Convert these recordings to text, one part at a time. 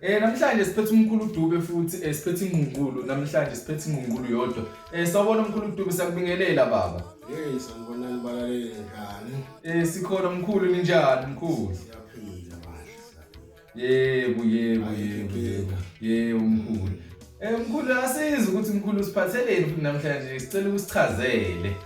Eh namhlanje siphethe umkhulu Dube futhi eh, siphethe ingqungulu namhlanje siphethe ingqungulu yodwa. Eh sawubona umkhulu Dube sakubingelela baba. Hey sanibonani balaleli njani? Eh sikhona mkhulu ninjani mkhulu? Siyaphila manje. Yebo yebo yebo yebo. Yebo mkhulu. Eh mkhulu asizi ukuthi mkhulu siphatheleni futhi namhlanje sicela ukusichazele.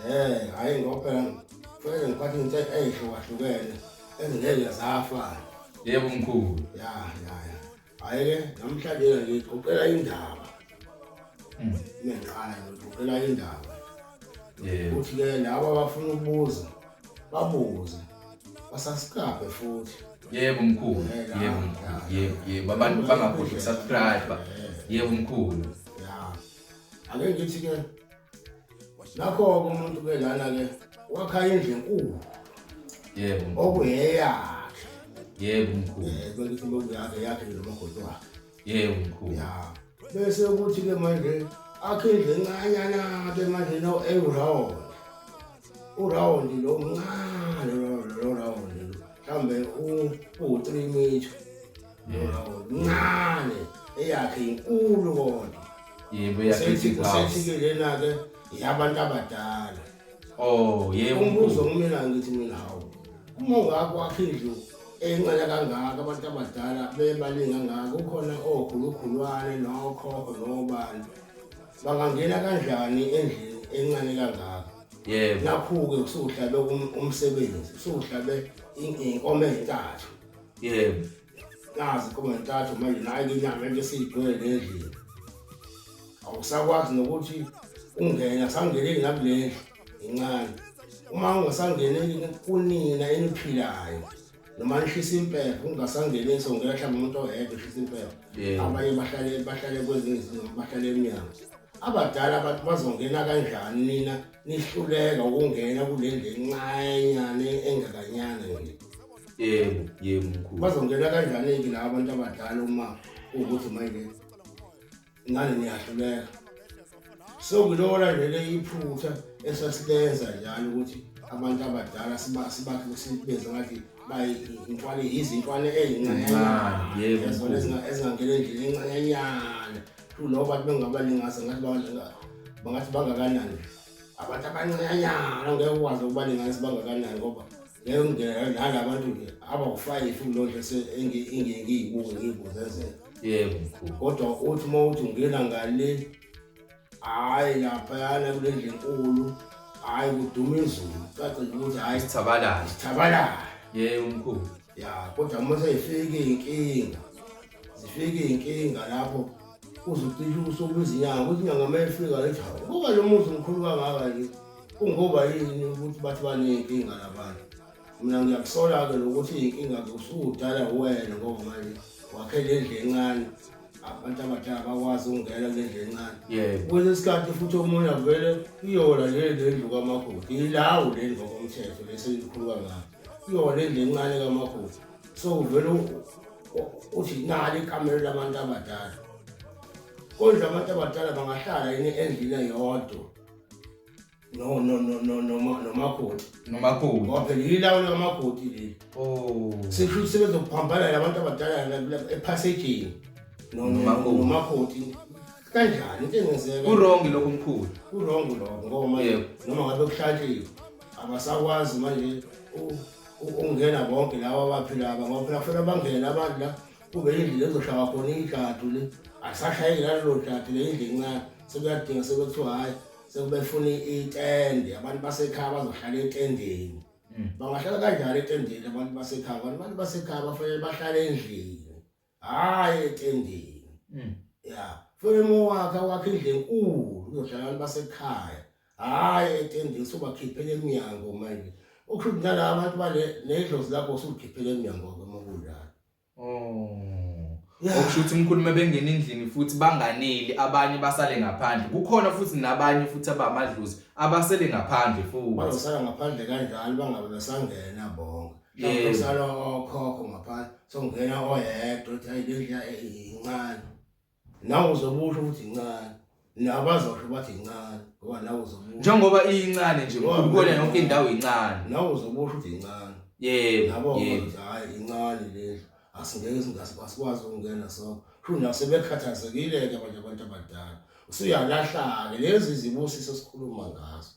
Eh hayi ngoba ngifike ngiphathe into eyihlukahlukene. Ezingeke zafana. Yebo mkhulu. Ya ya ya. Hayi namhlanje ngixoxela indaba. Mm. Ngiqala ngixoxela indaba. Yebo. Uthi ke laba abafuna ukubuza babuze. Basasikabe futhi. Yebo mkhulu. Yebo mkhulu. Yebo yebo abantu bangakhohlwa subscribe. Yebo mkhulu. Ya. Ake ngithi ke nakho-ke umuntu ke lana-ke wakha indlu enkulu yebo okuyeyakhe yebo mkhulu kwelithi bokuyakhe yakhe nomagoti wakhe yebo mkhulu ya bese ukuthi-ke manje akhe indlu encanyana-ke manje no ewurawond urawond lo mncane lo rawond lo mhlawumbe u-three metre Lona ngokuncane eyakhe inkulu kodwa. Yebo Sethi yakhe. kusethi ke lena ke yabantu abadala. Oh, yebo. Umbuzo kumina ngithi mina hawu. Uma ungakho wakhe indlu encane kangaka abantu abadala bebaningi kangaka ukhona okhulukhulwane nokho nobani. Bangangena kanjani endlini encane kangaka? Yebo. Nakhu-ke kusuhlabe um- umsebenzi, kusuhlabe in- inkomo ezintathu. yebo nazi kobe ntathu manje nayi inyama into esiyigcwele nendlini awusakwazi nokuthi ungena sangeneli nakulendlu incane uma ungasangeneli kunina eniphilayo noma nishisa impepho ungasangeneli songela mhlawumbe umuntu ohebe ushisa impepho abanye bahlale bahlale kwezinye izinto bahlale emnyango abadala abantu bazongena kanjani nina nihluleka ukungena kule ndlu encanyane engakanyana nje yebo yebo mkhulu bazongena kanjani-ke laba abantu abadala uma ukuthi manje ngane niyahluleka so ngilona vele iphutha esasilenza njalo ukuthi abantu abadala sibakhe sibenze ngathi bayintwale yizintwale eyincanyezona ezingangena endlini encanyanyana kulowo bantu bengabalingasa ngathi bangathi bangakanani abantu abancanyanyana ngeke ukwazi ukubalinganisa bangakanani ngoba ngengena nalabantu nje abawufayifi kulonto engiyibunga ngiyibuzezela yebo mkhulu kodwa uthi uma uthi ungena ngale hhayi laphayana kule ndlu enkulu hhayi kuduma izulu cace nje ukuthi hhayi sithabalala sithabalala yebo mkhulu ya kodwa uma seyifika iy'nkinga zifika iy'nkinga lapho uze ucishe usuku izinyanga ukuthi inyanga uma ifika lethi hawu kuba lo muzi mkhulu kangaka nje kungoba yini ukuthi bathi baney'nkinga labantu mina ngiyakusola-ke lokuthi iy'nkinga zosudala wena ngoba manje wakhe le ndlu encane abantu abadala bakwazi ukungena kule ndlu encane kwenye isikhathi futhi omunye avele iyona le le ndlu kamakoti yilawo le ndlu ngokomthetho lesiyilikhulu kangaka iyona le ndlu encane kamakoti so uvele uthi nali ikamelo labantu abadala kodwa abantu abadala bangahlala yini endlini eyodwa no no no no noma nomakoti nomakoti ngoba phela yilawo lamakoti leli oh sisho ukuthi sebezokuphambanela abantu abadala ephasejini nomakoti kanjani into engenzeka kurongi lokho mkhulu kurongi lokho ngoba manje noma ngabe kuhlatshile abasakwazi manje ukungena bonke laba abaphila aba ngoba phela kufanele bangene abantu la kube yindlu lezoshaya khona ijadu le akusashayeki nalelo jadu le yindlu encane sekuyadinga sekuthiwa hhayi sekubefuna itende abantu basekhaya bazohlala etendeni hmm. bangahlala kanjani etendeni abantu basekhaya abantu basekhaya bafanele bahlale endlini hayi etendeni mm. ya fanele mowakhe wakhe indlu enkulu uyohlala abantu basekhaya hayi etendeni sobakhiphela emnyango manje okusho ukuthi nala abantu bale nedlozi lakho usukhiphela emnyango kwemokulala oh okusho ukuthi umkhulu mebengena endlini futhi banganeli abanye basale ngaphandle kukhona futhi nabanye futhi abamadlozi abasele ngaphandle futhi bazosala ngaphandle kanjalo bangabe besangena bonke yeah. usala okhokho ngaphandle songena oyedwa uthi hayi lendlu incane nawe uzobusho ukuthi incane nabazosho bathi incane ngoba nawe uzobusho njengoba iyincane nje ukona yonke indawo incane nawe uzobusho ukuthi incane yebo nabo ukuthi hayi incane lendlu asingeke singasikwazi ukungena so sho nasebekhathazekile-ke abanye abantu abadala usuyalahlake lezi zibusiso sikhuluma ngazo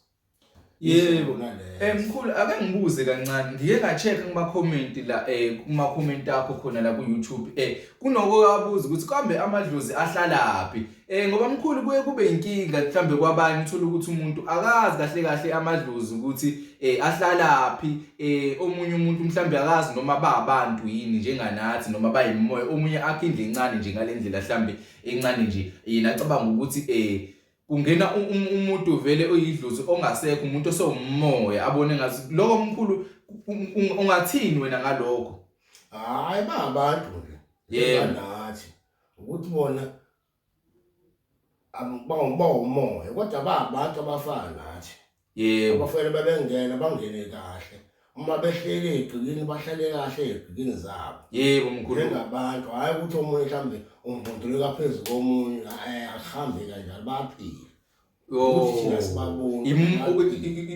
Yebo. Eh mkhulu ake ngibuze kancane ngike nga check kuma comment la eh kuma comment akho khona la ku YouTube eh kunoko kabuza ukuthi kambe amadlozi ahlalaphi eh ngoba mkhulu kuye kube inkinga mhlambe kwabanye uthola ukuthi umuntu akazi kahle kahle amadlozi ukuthi eh ahlalaphi eh omunye umuntu mhlambe akazi noma babantu yini njenganathi noma bayimoya omunye akhe indle incane nje ngalendlela mhlambe encane nje yena acabanga ukuthi eh kungena umuntu vele oyidlozi ongasekho umuntu osewumoya abone ngathi lokho omkhulu ungathini wena ngalokho hayi ba abantu ke yebo nathi ukuthi bona abawumoya kodwa ba abantu abafana nathi Yebo. Abafana babengena bangene kahle. Uma behlele egcikini bahlale kahle egcikini zabo. Yebo mkhulu. Njengabantu hayi ukuthi omunye mhlambe umbunduleka phezulu komunye eh akuhambe kanjalo baphile.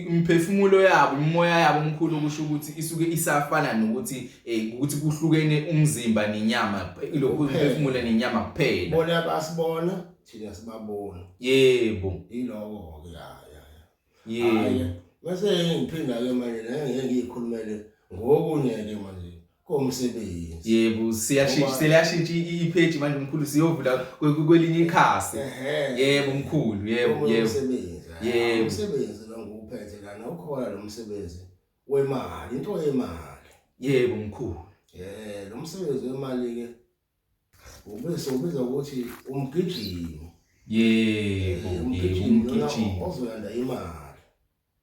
imphefumulo yabo imimoya yabo omkhulu okusho ukuthi isuke isafana nokuthi eh ukuthi kuhlukene umzimba nenyama lokho imphefumulo nenyama kuphela bona basibona thina sibabona yebo iloko ke ya ya yebo bese ngiphinda ke manje ngeke ngikhulumele ngokunye ke manje komsebenzi yebo siyashintsha siyashintsha ipage manje mkhulu siyovula kwelinye ikhasi yebo mkhulu yebo yebo yebo umsebenzi lo nguphethe lana ukhona lo msebenzi wemali into yemali yebo mkhulu eh lo msebenzi wemali ke Ubese ubiza ukuthi umgijimi. Yebo, eh, umgijimi ozoyanda imali.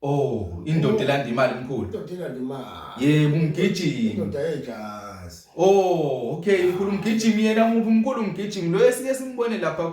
Oh, indoda elanda imali mkhulu. Indoda elanda imali. Yebo, umgijimi. Indoda yejazi. Oh, okay, mkhulu umgijimi yena muphi mkhulu umgijimi? Lo esike simbone lapha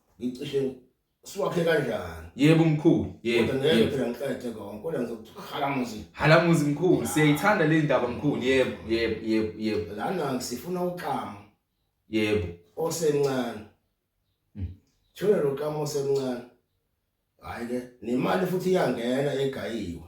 ngicishe siwakhe kanjani yebo mkhulu yebo kodwa ngeke phela ngiqede konke kodwa ngizokuthi halamuzi halamuzi mkhulu siyayithanda le ndaba mkhulu yebo yebo yebo yebo lana ngisifuna uqamo yebo osencane hmm. thula lo qamo osencane hayi ke nemali futhi iyangena egayiwe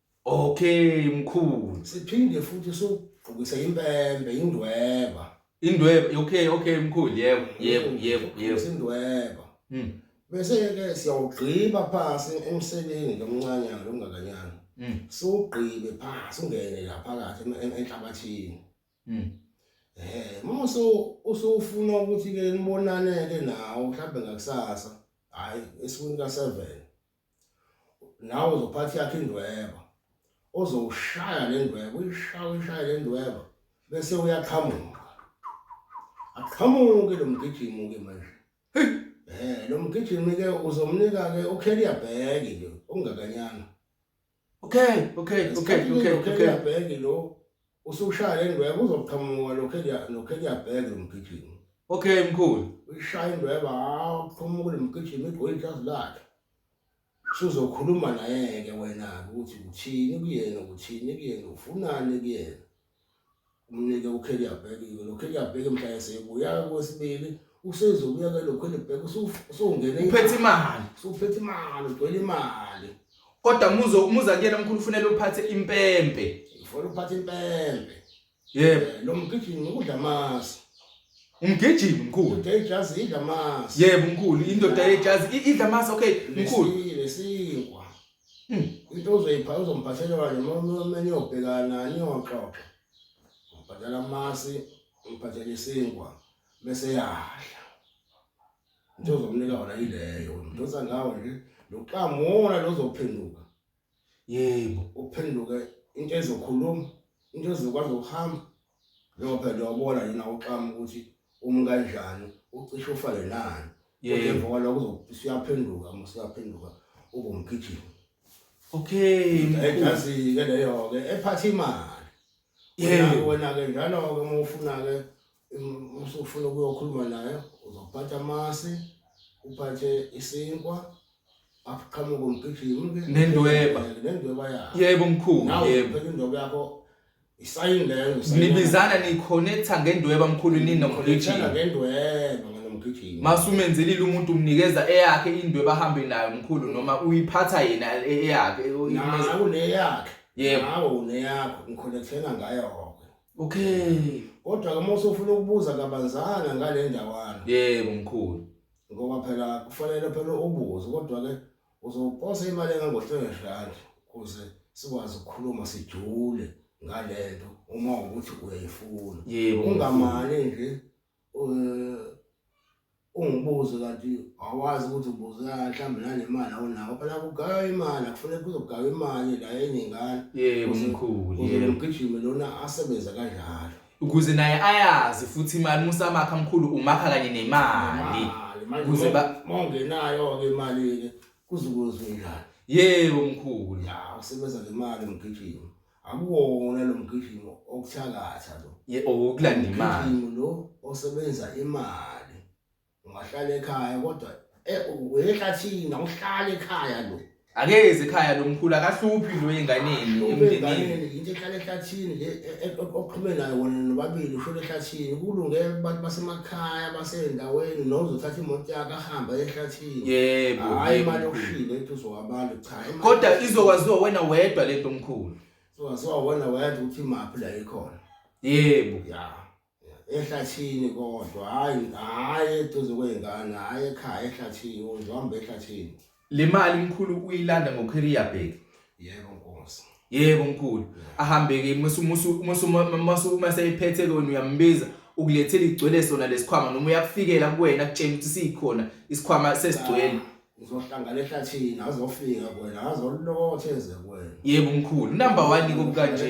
Okay mkhulu. Siphinde futhi sugqokise impembe indweba. Indweba okay okay mkhulu yebo yebo yebo yebo. Indweba. Mhm. Bese ke siyawugqiba phansi emseleni lomncanyana lomngakanyana. Mhm. Sugqibe phansi ungene la phakathi enhlabathini. Mhm. Eh, uma so usufuna ukuthi ke nibonane ke nawo mhlawumbe ngakusasa. Hayi, esukwini ka 7. nawe uzophatha yakhe indweba ozowushaya le ndweba uyishaya uyishaye le ndweba bese uyaqhamuka aqhamuke lo mgijimi-ke manje um lo mgijimi-ke uzomnika-ke ukheliya bheki nje okungakanyana okay okay okay okay okay yabheke lo usushaya indweba uzoqhamuka lokho lokho yabheke lo mgijimi okay mkhulu ushaya indweba awuqhamuka lo mgijimi igoli ijazi lakhe suzokhuluma naye ke wena ukuthi uthini kuyena uthini kuyena ufunani kuyena umnike uKelly abhekile lo Kelly abheke mhla esebuya kwesibili usezobuya ke lo Kelly bheke usungene uphethe imali usuphethe imali ugcwele imali kodwa muzo umuza kuyena mkhulu ufunela uphathe impempe ufuna uphathe impempe yebo eh, lo mgijimi ukudla amasi umgijimi mkhulu indoda ejazi idla amasi yebo mkhulu indoda ejazi idla amasi okay mkhulu lesinkwa Hmm, into uzoyipha uzomphathela kanje uma niyobhekana niyoxoxa umphathela amasi umphathela isinkwa bese yadla into ozomnika wona yileyo mdosa ngawo nje loqamona lozophenduka yebo uphenduke into ezokhuluma into ezokwazi ukuhamba Ngiyophela ubona yini awuxama ukuthi umi kanjani ucishe ufale nani. Yebo. Emva kwaloko siyaphenduka uma siyaphenduka ubomgijima. Okay. Ejazi ke leyo ke ephatha imali. Yebo. Wena ke njalo ke uma ufuna ke usufuna ukuyokhuluma naye uzophatha amasi uphathe isinkwa akuqhamuke umgijimi nendweba nendweba yakho yebo mkhulu yebo indweba yakho Isayini leyo ngisayini. Nibizana niconnecta ngendweba mkhulu Ngithanda ninomgijimi. ngendweba nganomgijimi. Masumenzelile umuntu umnikeza eyakhe indweba ahambe nayo mkhulu noma uyiphatha yena e- eyakhe. Nawe uneyakhe. Yebo. Nawe uneyakho. Ngiconnectela ngayo. Okay. Kodwa ke mose ufuna ukubuza kabanzana ngale ndawana Yebo mkhulu. ngoba phela kufanele phela ubuze kodwa ke Uzoposa imali engango-300 rand ukuze sikwazi ukukhuluma sijule ngale nto uma ukuthi uyayifuna. Yebo. Ungamane nje eh, ungibuze kanti awazi ukuthi ubuza mhlawumbe nanemali awunawo phela kugaywa imali akufuneka kuzogaywa imali la eningane Yebo mkhulu. kuze Yebo. lomgijimi lona asebenze kanjalo. ukuze naye ayazi futhi imali musamakha mkhulu umakha kanye nemali ukuze ba mongenayo ke imali kuzukuzwe njani yebo mkhulu ya usebenza ngemali mgijimo akuwona lo mgijimo okuthakatha lo ye okulanda imali lo osebenza imali ungahlala ekhaya kodwa eh, uyehlathina uhlala ekhaya lo akezi ekhaya lo mkhulu akahluphi lo enganeni emndenini into ehlala ehlathini le e- e- oqhume nayo wona nobabili ushona ehlathini kulungele abantu basemakhaya basendaweni nozothatha imoto yakhe ahamba ehlathini yebo hayi yebo, imali mkhulu. yokushila ethi uzowabantu cha imali kodwa yokushila. izokwaziwa wena wedwa lento mkhulu izokwaziwa wena wena ukuthi imaphi la ikhona yebo ya ehlathini kodwa hayi hayi eduze kwey'ngane hayi ekhaya ehlathini uzohamba ehlathini le mali mkhulu uyilanda ngokheriya bheki yebo nkosi yebo mkhulu ahambe-ke uma seyiphethe-ke wena uyambiza ukulethela igcwele sona lesikhwama noma uyakufikela kuwena kutshela ukuthi sikhona isikhwama sesigcwele uzohlangana ehlathini azofika kwena azolothe eze kwena yebo mkhulu number 1 iko kanje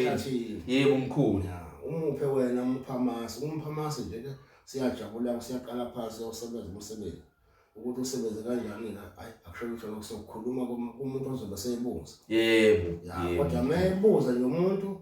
yebo mkhulu umuphe wena umuphamasi umuphamasi nje ke siyajabula siyaqala phansi usebenza umsebenzi ukuthi usebenze kanjani la hayi akusho ukuthi lokusokhuluma kumuntu ozobe seyibuza yebo kodwa mayebuza nje umuntu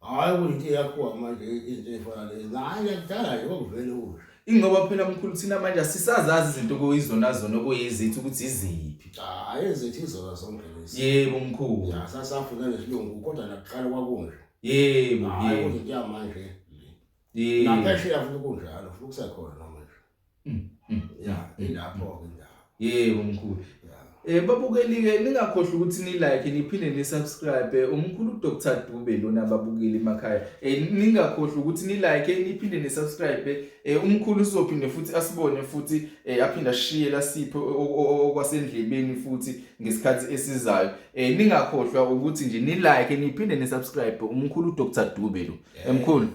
Hayi kuyinto yakho manje into efana le. Hayi yakudala nje kwakuvele usho. Ingoba phela mkhulu thina manje asisazazi izinto okuyizona zona okuyizithi ukuthi iziphi. Hayi ezithi izona zonke lezi. Yebo mkhulu. Ya sasafuna nesilungu kodwa nakuqala kwakunje. Yebo Hayi yebo. kuyinto yamanje. Yebo. Naphesheya futhi kunjalo futhi kusekhona noma nje. Mm, mm, ya ilapho ke ndawo yebo mkhulu Eh babukelike ningakhohlwa ukuthi ni like niphinde ni subscribe umkhulu Dr Dube lona babukeli emakhaya eh ningakhohlwa ukuthi ni like niphinde ni subscribe eh umkhulu uzophinde futhi asibone futhi eh aphinda shiye la sipho okwasendlebeni futhi ngesikhathi esizayo eh ningakhohlwa ukuthi nje ni like niphinde ni subscribe umkhulu Dr Dube lo emkhulu yeah.